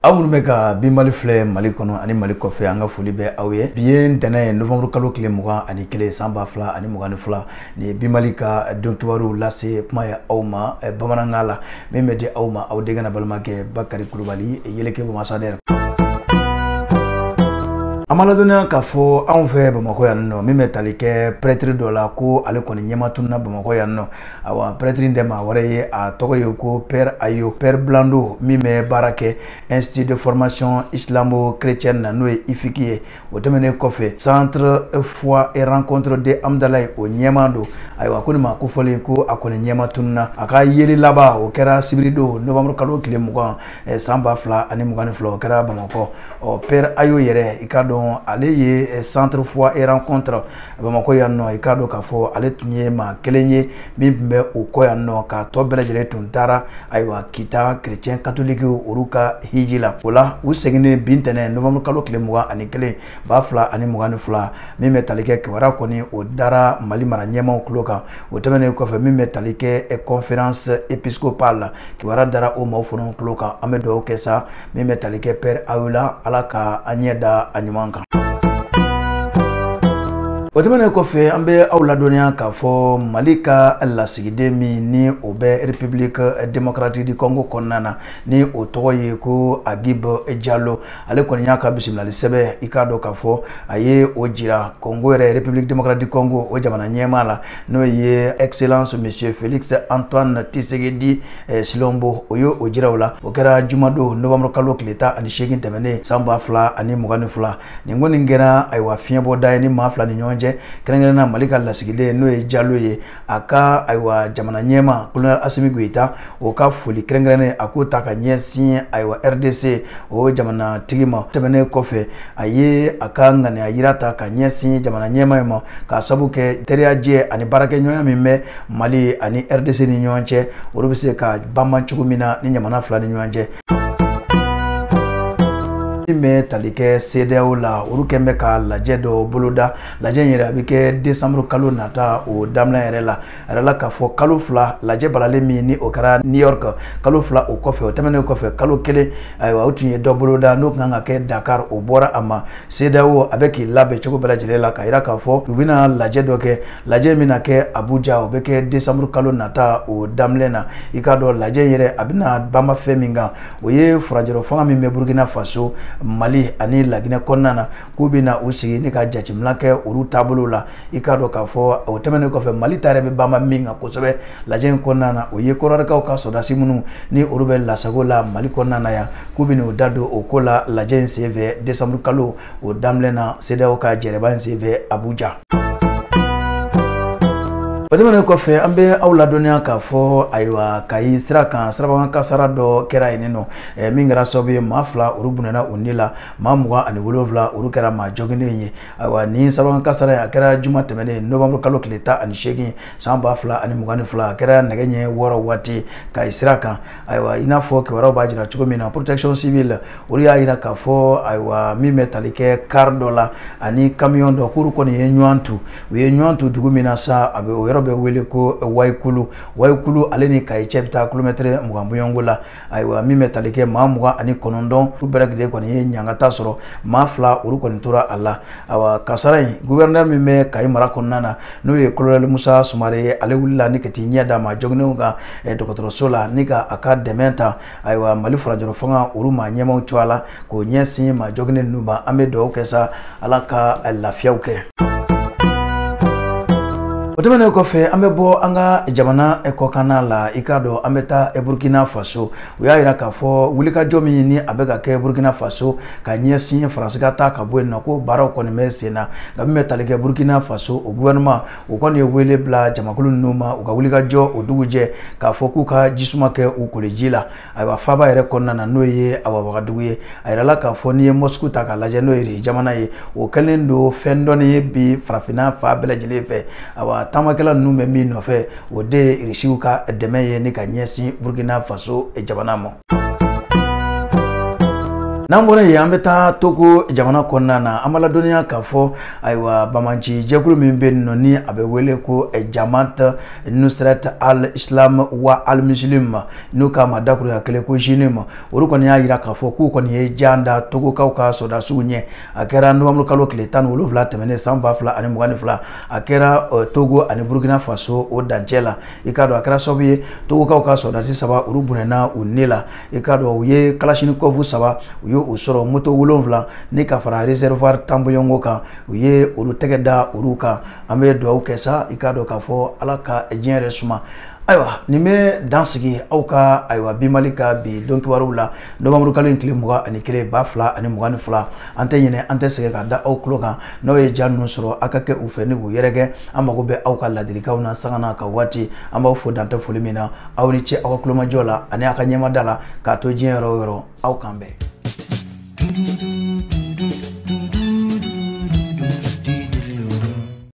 aw minnu bɛ ka bi mali filɛ mali kɔnɔ ani mali kɔfɛ an ka foli bɛ aw ye bi ye ntɛnɛn ye novembre kalo tile mugan ani kelen san ba fila ani mugan ni fila nin ye bi mali ka don kibaruw lase kuma ye aw ma eh, bamanankan la min bɛ di aw ma aw denkɛ n'aw balimakɛ bakari kulubali yeleke bamasa dɛrɛ an ma ladɔnniya k'a fɔ anw fɛ bamakɔ yan nɔ min bɛ tali kɛ prɛtiri dɔ la ko ale kɔni ɲɛma tununa bamakɔ yan nɔ awa prɛtiri in tɛ maa wɛrɛ ye a tɔgɔ ye ko pɛr ayo pɛr blanc don min bɛ baara kɛ institut de formation islamo chrétienne na n'o ye ifiki ye o tɛmɛnen kɔfɛ centre foi et rencontre de amdalaye o ɲɛmaa don ayiwa ko nin maa kofɔlen ko a kɔni ɲɛma tununa a ka yeli laban o kɛra sibiridon novembre kalo tile mugan eh, san ba fila ani mugan ni fila o kɛra bamakɔ ɔ pɛr ayo yɛrɛ i k'a dɔn ale ye eh, centre foi et rencontre bamakɔ yan nɔ i k'a dɔn k'a fɔ ale tun ye maa kelen ye min tun bɛ o kɔ yan nɔ k'a tɔ bɛɛ lajɛlen tun taara ayiwa kita kerecɛn katolikiw olu ka hiji la o la u seginnen bi ntɛnɛn novanburu kalo tile mugan ani kelen ba fila ani mugan ni fila min bɛ tali kɛ kibaruya kɔni o dara mali mara ɲɛmaaw tulo kan o tɛmɛnen kɔfɛ min bɛ tali kɛ conférence épiscopale la kibaruya dara o maaw fana tulo kan an bɛ dugawu kɛ sa min bɛ tali kɛ pɛr ayo la ala ka an ɲɛ da a ɲuman kan o tɛmɛnen kɔfɛ an bɛ aw ladɔnniya k'a fɔ mali ka lasigiden min ni o bɛ république démocratique du congo kɔnɔna na ni o tɔgɔ ye ko agib jalo ale kɔni y'a ka bisimilali sɛbɛn i k'a dɔn k'a fɔ a ye o jira congo yɛrɛ république démocratique du congo o jamana ɲɛmaa la n'o ye excellence monsieur félix antoine tshisekedi Eh, tshilombo o y'o jira o la o kɛra jumadon novembre kalo tile tan ani seegin tɛmɛnen san ba fila ani mugan ni fila nin ko nin kɛra ayiwa fiɲɛbɔda ye nin maa fila ni ɲɔgɔn cɛ kɛrɛnkɛrɛnna mali ka lasigiden n'o ye jalo ye a ka ayiwa jamana ɲɛmaa kolonɛl asimi goyita o ka foli kɛrɛnkɛrɛnnen a k'o ta ka ɲɛsin ayiwa rdc o jamanatigi ma tɛmɛnen kɔfɛ a ye a ka ŋaniya yira ta ka ɲɛsin jamana ɲɛmaa ye ma k'a sabu kɛ teriyajɛ ani baarakɛɲɔgɔnya min bɛ mali ani rdc ni ɲɔgɔn cɛ olu bɛ se ka banban cogo min na nin jamana fila ni ɲɔgɔn cɛ min bɛ tali kɛ CEDEAO la olu kɔni bɛ ka lajɛ dɔ boloda lajɛ in yɛrɛ a bɛ kɛ desanburu kalo nata o daminɛ yɛrɛ la a yirala k'a fɔ kalo fila lajɛ balalen min ni o kɛra new york kalo fila o kɔfɛ o tɛmɛnen kɔfɛ kalo kelen ayiwa o tun ye dɔ boloda n'o kan ka kɛ dakar o bɔra a ma CEDEAO a bɛ k'i labɛn cogo bɛɛ lajɛlen la k'a yira k'a fɔ u bɛna lajɛ dɔ kɛ lajɛ bɛna kɛ abuja o bɛ kɛ desanburu kalo nata o daminɛ na i k'a dɔn lajɛ in yɛrɛ a bɛna banban fɛn min kan o ye furancɛla fanga min bɛ burukina faso mali ani laginɛ kɔnɔna na k'u bɛ na u sigi ni ka jateminɛ kɛ olu taabolo la i k'a dɔn k'a fɔ o tɛmɛnen kɔfɛ mali ta yɛrɛ bɛ banba min kan kosɛbɛ lajɛ in kɔnɔna na o ye kɔdiwarikaw ka sɔrɔdasi minnu ni olu bɛ lasago la mali kɔnɔna na yan k'u bɛ n'u da don o ko la lajɛ in senfɛ desanburu kalo o daminɛ na sedeyaw ka jɛrɛba in senfɛ abuja. o tɛmɛnen kɔfɛ an bɛ aw ladɔnniya k'a fɔ ayiwa kayi sira kan sirabakan kasara dɔ kɛra yen nɔ min kɛra sababu ye maa fila olu bɔnɛna u ni la maa mugan ani wolonwula olu kɛra maa jɔginnen ye ayiwa nin sirabakan kasara in a kɛra juma tɛmɛnen nɔwanburu kalo tile tan ani seegin san ba fila ani mugan ni fila a kɛra nɛgɛ ɲɛ wɔɔrɔ waati kayi sira kan ayiwa i n'a fɔ kibaruyaw b'a jira cogo min na protection civile olu y'a jira k'a fɔ ayiwa min bɛ tali kɛ kari dɔ la ani kamiyɔn dɔ k'olu kɔni ye ɲɔgɔn tu u ye ɲɔgɔn tu dugu min na sa a bɛ o yɔrɔ bɛ wele ko wayikulu wayikulu ale ni kayi cɛ bɛ taa kilomɛtɛrɛ mugan bɔɲɔgɔnko la ayiwa min bɛ tali kɛ maa mugan ani kɔnɔntɔn olu bɛɛ lajɛlen kɔni ye ɲangata sɔrɔ maa fila olu kɔni tora a la awa kasara in guvɛrɛnɛri min bɛ kayi mara kɔnɔna na n'o ye kolonɛli musa sumare ye ale wulila ni ka t'i ɲɛ da maa jɔginnenw kan eh, dɔgɔtɔrɔso la ni ka a ka dɛmɛ ta ayiwa mali furancɛla fanga olu maa ɲɛmaw tɔgɔ la k'o ɲɛsin maa jɔginnen ninnu ma an bɛ dugawu kɛ sa ala ka lafiyaw kɛ o tɛmɛnen kɔfɛ an bɛ bɔ an ka jamana kɔkanna la i k'a dɔn an bɛ taa burkina faso u y'a jira k'a fɔ wulikajɔ min ni a bɛ ka kɛ burkina faso ka ɲɛsin faransi ka taa ka bɔ yen nɔ ko baaraw kɔni bɛ sen na nka min bɛ tali kɛ burkina faso o gouvernement o kɔni ye wele bila jamakulu ninnu ma u ka wulikajɔ o dugujɛ k'a fɔ k'u ka ji suma kɛ u koliji la ayiwa faaba yɛrɛ kɔnɔna na n'o ye awa wagadugu ye a yirala k'a fɔ n'i ye mɔsiku ta k'a lajɛ n'o ye irisi jamana ye o kɛlen don fɛn dɔnni ye bi farafinna fan bɛɛ lajɛlen fɛ awa taamakɛla ninnu bɛ min nɔfɛ o de ye irisiw ka dɛmɛ ye ni ka ɲɛsin burukina faso jamana ma n'an bɔra yen an bɛ taa togo jamana kɔnɔna na an b'aw ladɔnniya k'a fɔ ayiwa banbaanci jɛkulu min bɛ yen nɔ ni a bɛ wele ko jamat nusrat al islam wa al muslim n'u k'a ma dakuruɲɛ kelen ko jnim olu kɔni y'a jira k'a fɔ k'u kɔni ye jan da togokaw ka sɔrɔdasiw ɲɛ a kɛra nɔwanburu kalo tile tan ni wolonwula tɛmɛnen san ba fila ani mugan ni fila a kɛra eh, togo ani burukina faso o dancɛ la i k'a dɔn a kɛra sababu ye togokaw ka sɔrɔdasi saba olu bɔnɛna u ni la i k'a dɔn u ye kalasinikɔfu saba u ye u sɔrɔ moto wolonwula ni ka fara reservoir tan bɔɲɔgɔnko kan u ye olu tɛgɛ da olu kan an bɛ dugawu kɛ sa i k'a dɔn k'a fɔ ala ka diɲɛ yɛrɛ suma ayiwa nin bɛ dan sigi aw ka ayiwa bi mali ka bi don kibaruw la nowanburu kalo in tile mugan ani kelen ba fila ani mugan ni fila an tɛ ɲinɛ an tɛ sɛgɛn k'a da aw tulo kan n'aw ye ja ninnu sɔrɔ aw ka kɛ u fɛ ni k'u yɛrɛkɛ an mago bɛ aw ka ladilikanw na sanga n'a ka waati an b'aw fo dan tɛ foli min na aw ni ce aw ka tulomajɔ la ani aw ka ɲɛmada la ka to diɲɛ yɔrɔ o yɔrɔ aw k'an bɛn